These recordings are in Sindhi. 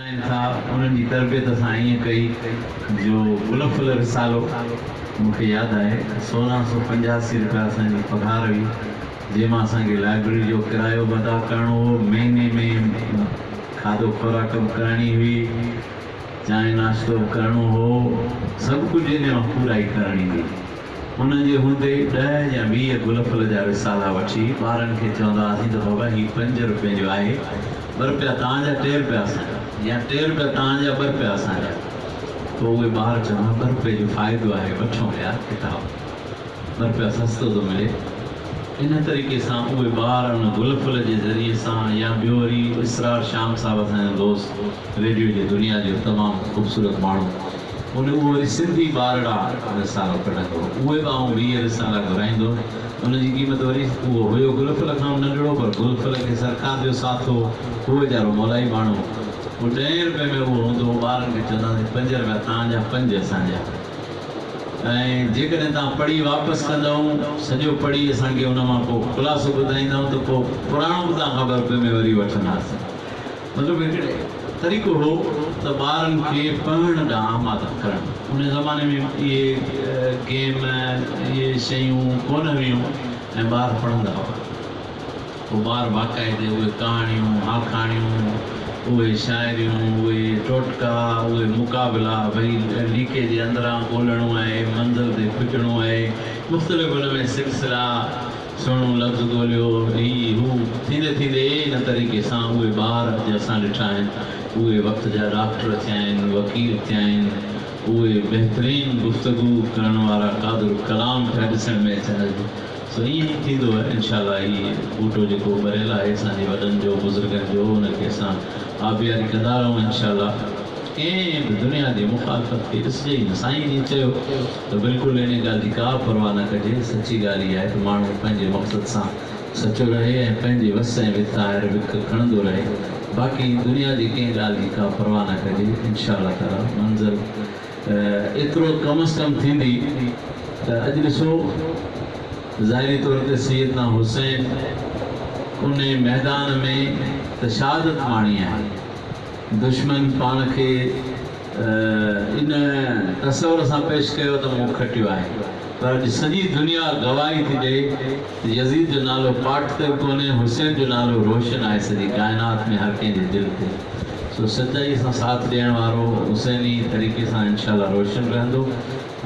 سائين صاحب انهن جي تربيت اسان ائين ڪئي جو گل ڦل رسالو مون کي ياد آهي سورهن سو پنجاسي رپيا اسان جي پگهار هئي جنهن مان اسان کي لائبرري جو ڪرايو به ادا ڪرڻو هو مهيني ۾ کاڌو خوراڪ به ڪرڻي هئي چانهه ناشتو به ڪرڻو هو سڀ ڪجهه ان مان پورائي ڪرڻي هئي. ان جي هوندي ئي ڏهه يا ويهه گل ڦل جا رسالا وٺي ٻارن کي چوندا هئاسين ته بابا هي پنج روپين جو آهي، ٻه روپيا توهان جا ٽي روپيا اسان جا يا ٽي روپيا توهان جا ٻه روپيا اسان جا پوء اهي ٻار چون ها ٻه روپيه جو فائدو آهي وٺون يا ڪتاب ٻه روپيا سستو ٿو ملي ان طريقي سان اهي ٻار ان گل ڦل جي ذريعي سان يا ٻيو وري اسرار شام صاحب اسان جو دوست ريڊيو جي دنيا جو تمام خوبصورت ماڻهو. هن اهو وري سنڌي ٻارڙا رسالو ڪڍندو هو، اهي به آئون ويهه رسالا گهرائيندو هيم، ان جي قيمت وري اهو هيو گلڦل کانئون ننڍڙو، پر گلڦل کي سرڪار جو ساٿ هو، هو ويچارو مولائي ماڻهو هو، ڏهين رپئي ۾ اهو هوندو هو، ٻارن کي چوندا هئاسين پنج رپيا توهان جا پنج اسان جا، ۽ جيڪڏهن توهان پڙهي واپس ڪندائون، سڄو پڙهي اسان کي ان مان ڪو خلاصو ٻڌائيندائون ته پوء پراڻو به توهان کان ٻه رپئي ۾ وري وٺنداسين. مطلب هڪڙي طريقو هو ته ٻارن کي پڙهڻ ڏانهن آماده ڪرڻ. انهيء زماني ۾ اهي گيم اهي شيون ڪونه هيون ۽ ٻار پڙهندا هئا. پوء ٻار باقاعدي اهي ڪهاڻيون، آکاڻيون، اهي شاعريون، اهي ٽوٽڪا، اهي مقابلا، ڀئي ليڪي جي اندران ڳولهڻو آهي، منظر تي کوٽڻو آهي، مختلف ان ۾ سلسلا، سهڻو لفظ ڳوليو، هي، هو، ٿيندي ٿيندي ان طريقي سان اهي ٻار جي اسان ڏٺا آهن، اهي وقت جا ڊاڪٽر ٿيا آهن، وڪيل ٿيا آهن، اهي بهترين گفتگو ڪرڻ وارا قادر الڪلام پيا ڏسڻ ۾ اچن اڄ، سو ائين ئي ٿيندو آهي انشاء الله هي ٻوٽو جيڪو ٻريل آهي اسان جي وڏن جو بزرگن جو ان کي اسان آبياري ڪندا رهون انشاء الله ڪنهن به دنيا جي مخالفت کي ڏسجي ئي نه سائين جئين چيو ته بلڪل انهيء ڳالهه جي ڪابه پرواهه نه ڪجي. سچي ڳالهه اها آهي ته ماڻهو پنهنجي مقصد سان سچو رهي ۽ پنهنجي وس ۽ وت آهر وک کڻندو رهي. باقي دنيا جي ڪنهن ڳالهه جي ڪا پرواهه نه ڪجي. انشاء الله تعاليٰ منزل ايترو ڪم از ڪم ٿيندي ته اڄ ڏسو ظاهري طور تي سيدنا حسين ان ميدان ۾ ته شهادت ماڻي آهي. دشمن پاڻ کي ان تصور سان پيش ڪيو ته مون کٽيو آهي پر اڄ سڄي دنيا گواهي ٿي ڏئي ته يزيد جو نالو پاٽ تي به ڪونهي حسين جو نالو روشن آهي سڄي ڪائنات ۾ هر ڪنهن جي دل تي سو سچائي سان ساٿ ڏيڻ وارو حسين ئي طريقي سان انشاء الله روشن رهندو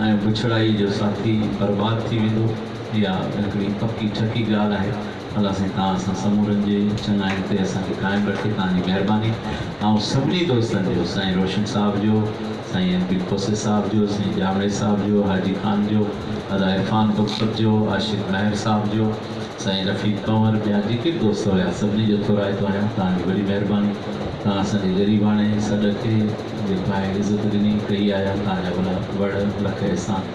۽ بڇڙائي جو ساٿي برباد ٿي ويندو اها هڪڙي پڪي ٺڪي ڳالهه آهي. الله سائين توهان اسان سمورن جي چڱائين تي اسان کي قائم رکي توهان جي مهرباني آئون سڀني دوستن جو سائين روشن صاحب جو سائين ايم پي کوسي صاحب جو سائين ڄامڙي صاحب جو حاجي خان جو ادا عرفان بگسر جو عاشق مهر صاحب جو سائين رفيق ڪنور ٻيا جيڪي به دوست هيا سڀني جو ٿورائتو آهيان توهان جي وڏي مهرباني توهان اسان جي غريباڻي سڏ کي جيڪو آهي عزت ڏني ڪئي آهي توهان جا وڏا وڙ لک احسان.